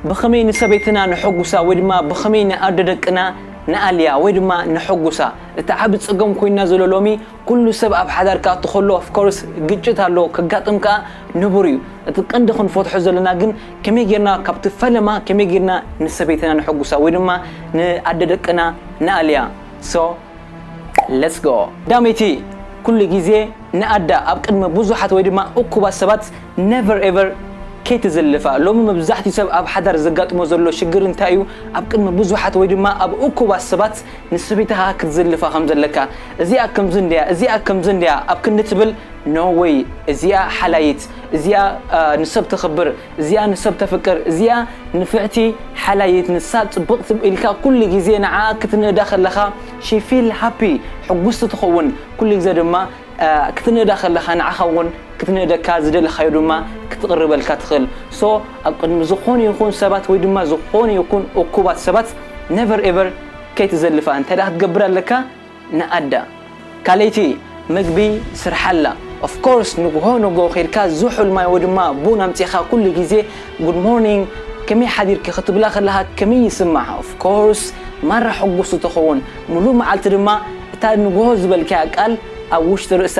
ብኸመይ ንሰበይትና ነሐጕሳ ወይ ድማ ብኸመይ ንኣደ ደቅና ንኣልያ ወይ ድማ ነሐጕሳ? እቲ ዓቢ ጸገም ኮይንና ዘሎ ሎሚ ኩሉ ሰብ ኣብ ሓዳር ክኣቱ ከሎ of course ግጭት ኣሎ ከጋጥም ከኣ ንቡር እዩ። እቲ ቀንዲ ክንፈትሖ ዘለና ግን ከመይ ጌርና ካብቲ ፈለማ ከመይ ጌርና ንሰበይትና ነሐጕሳ ወይ ድማ ንኣደ ደቅና ንኣልያ? so Let's go! ዳመይቲ ኩሉ ግዜ ንኣዳ ኣብ ቅድሚ ብዙሓት ወይ ድማ እኩባት ሰባት never ever ከይትዝልፋ ሎሚ መብዛሕትኡ ሰብ ኣብ ሓዳር ዘጋጥሞ ዘሎ ሽግር እንታይ እዩ ኣብ ቅድሚ ብዙሓት ወይ ድማ ኣብ እኩባት ሰባት ንሰበይትኻ ክትዝልፋ ከም ዘለካ እዚኣ ከምዚ እንድያ እዚኣ ከምዚ እንድያ ኣብ ክንዲ ትብል no way እዚኣ ሓላይት እዚኣ ንሰብ ተኽብር እዚኣ ንሰብ ተፍቅር እዚኣ ንፍዕቲ ሓላይት ንሳ ጽብቅቲ ኢልካ ኩሉ ግዜ ንዓኣ ክትንእዳ ከለካ she feel happy ሕጉስቲ ትከውን ኩሉ ግዜ ድማ ክትንእዳ ከለካ ንዓካ ውን ክትንእደካ ዝደለካዮ ድማ ክትቅርበልካ ትክእል so ኣብ ቅድሚ ዝኮኑ ይኩን ሰባት ወይ ድማ ዝኮኑ ይኩን እኩባት ሰባት never ever ከይትዘልፋ እንተ ክትገብር ኣለካ ንኣዳ ካለይቲ ምግቢ ስርሓላ of course ንግሆ ንግሆ ከይድካ ዝሑል ማይ ወድማ ቡን ኣምጺኻ ኩሉ ግዜ good morning ከመይ ሓዲርኪ ክትብላ ከለኻ ከመይ ይስምዓ of course ማራ ሕጉስቲ ትኸውን ምሉእ መዓልቲ ድማ እታ ንግሆ ዝበልካያ ቃል ኣብ ውሽጢ ርእሳ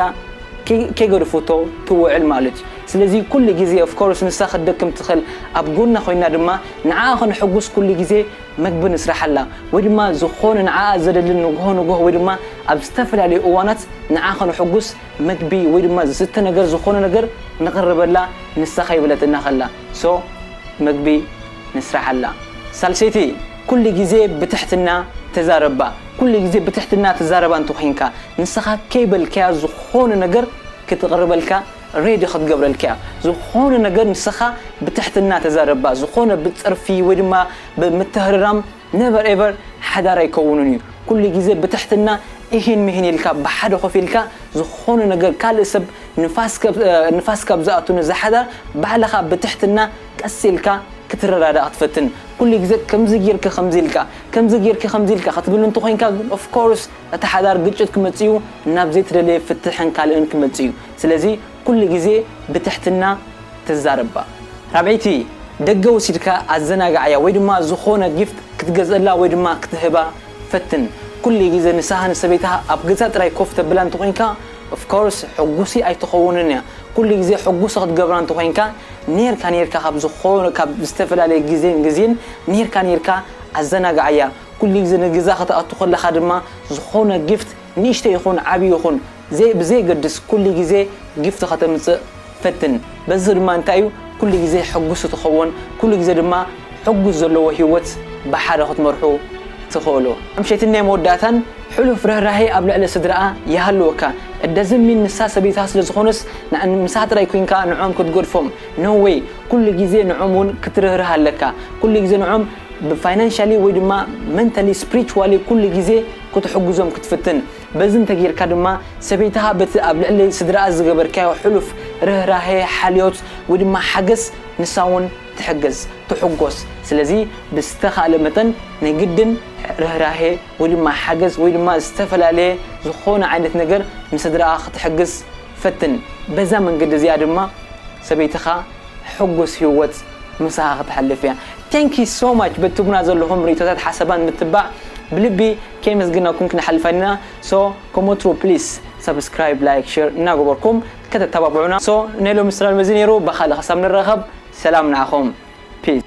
ከይገድፉቶ ትውዕል ማለት እዩ ስለዚ ኩሉ ግዜ of course ንሳ ክትደክም ትኽእል ኣብ ጎና ኮይና ድማ ንዓኣ ከነሕጉስ ኩሉ ግዜ መግቢ ንስርሓላ ወይ ድማ ዝኾነ ንዓኣ ዘድሊ ንጉሆ ንጉሆ ወይ ድማ ኣብ ዝተፈላለዩ እዋናት ንዓ ከነሕጉስ መግቢ ወይ ድማ ዝስተ ነገር ዝኾነ ነገር ንቕርበላ ንሳ ከይበለትና ከላ so መግቢ ንስርሓላ ሳልሰይቲ ኩሉ ግዜ ብትሕትና ተዛረባ ኩሉ ግዜ ብትሕትና ትዛረባ እንተኾይንካ ንስኻ ከይበልካያ ዝኾነ ነገር ክትቕርበልካ ሬዲ ክትገብረልካ እያ ዝኾነ ነገር ንስኻ ብትሕትና ተዛረባ ዝኾነ ብጽርፊ ወይ ድማ ብምትህርራም ነቨር ኤቨር ሓዳር ኣይከውንን እዩ ኩሉ ግዜ ብትሕትና እሂን ምሂን ኢልካ ብሓደ ኮፍ ኢልካ ዝኾነ ነገር ካልእ ሰብ ንፋስ ካብ ዝኣቱ ነዛ ሓዳር ባዕልኻ ብትሕትና ቀስ ኢልካ ክትረዳዳእ ክትፈትን ኩሉ ግዜ ከምዚ ጌርኪ ከምዚ ኢልካ ከምዚ ጌርኪ ከምዚ ኢልካ ክትብል እንተኾይንካ ግን ኦፍ ኮርስ እቲ ሓዳር ግጭት ክመጽእ እዩ ናብ ዘይተደለየ ፍትሕን ካልእን ክመጽእ እዩ ስለዚ ኩሉ ግዜ ብትሕትና ተዛረብ እባ። ራብዐይቲ፣ ደገ ወሲድካ ኣዘናግዓያ ወይ ድማ ዝኾነ ጊፍት ክትገዝእላ ወይ ድማ ክትህባ ፈትን። ኩሉ ግዜ ንሳሃ ንሰበይታሃ ኣብ ገዛ ጥራይ ኮፍ ተብላ እንተኾይንካ of course ሕጉሲ ኣይትኸውንን እያ። ኩሉ ግዜ ሕጉሲ ክትገብራ እንተኾይንካ ኔርካ ኔርካ ካብ ዝኾነ ካብ ዝተፈላለየ ግዜን ግዜን ኔርካ ኔርካ ኣዘናግዓያ። ኩሉ ግዜ ንገዛ ከተኣቱ ከለኻ ድማ ዝኾነ ጊፍት ንእሽተይ ይኹን ዓቢ ይኹን ዘይ ብዘየገድስ ኩሉ ግዜ ጊፍት ከተምጽእ ፈትን በዚ ድማ እንታይ እዩ ኩሉ ግዜ ሕጉስ እትኸወን ኩሉ ግዜ ድማ ሕጉስ ዘለዎ ሂወት ብሓደ ክትመርሑ ትኸእሉ ኣምሸትን ናይ መወዳእታን ሕሉፍ ርህራሄ ኣብ ልዕሊ ስድራኣ ይሃልወካ እደዚ ሚን ንሳ ሰበይትኻ ስለ ዝኾነስ ንኣን ምሳኻ ጥራይ ኮይንካ ንዖም ክትገድፎም no way ኩሉ ግዜ ንዖም ውን ክትርህርህ ኣለካ ኩሉ ግዜ ንዖም ብ financially ወይ ድማ mentally spiritually ኩሉ ግዜ ክትሕጉዞም ክትፍትን በዚ እንተ ጌርካ ድማ ሰበይትኻ በቲ ኣብ ልዕሊ ስድራኣ ዝገበርካዮ ሕሉፍ ርህራሄ፣ ሓልዮት ወይ ድማ ሓገዝ ንሳ እውን ትሕገዝ፣ ትሕጎስ። ስለዚ ብዝተኻእለ መጠን ናይ ግድን ርህራሄ ወይ ድማ ሓገዝ ወይ ድማ ዝተፈላለየ ዝኾነ ዓይነት ነገር ንስድራኣ ክትሕግዝ ፈትን። በዛ መንገዲ እዚኣ ድማ ሰበይትኻ ሕጉስ ሂወት ምሳኻ ክተሕልፍ እያ። Thank you so much በቲ ትህቡና ዘለኹም ርእይቶታት ሓሳባት ምትባዕ ብልቢ ከየመስገናኩም ክንሓልፍ ኣይንና so ከም ወትሩ please subscribe like share እናገበርኩም ከተተባብዑና so ናይ ሎሚ ስራልም እዚ ነይሩ በካልእ ክሳብ ንራከብ ሰላም ንዓኩም peace።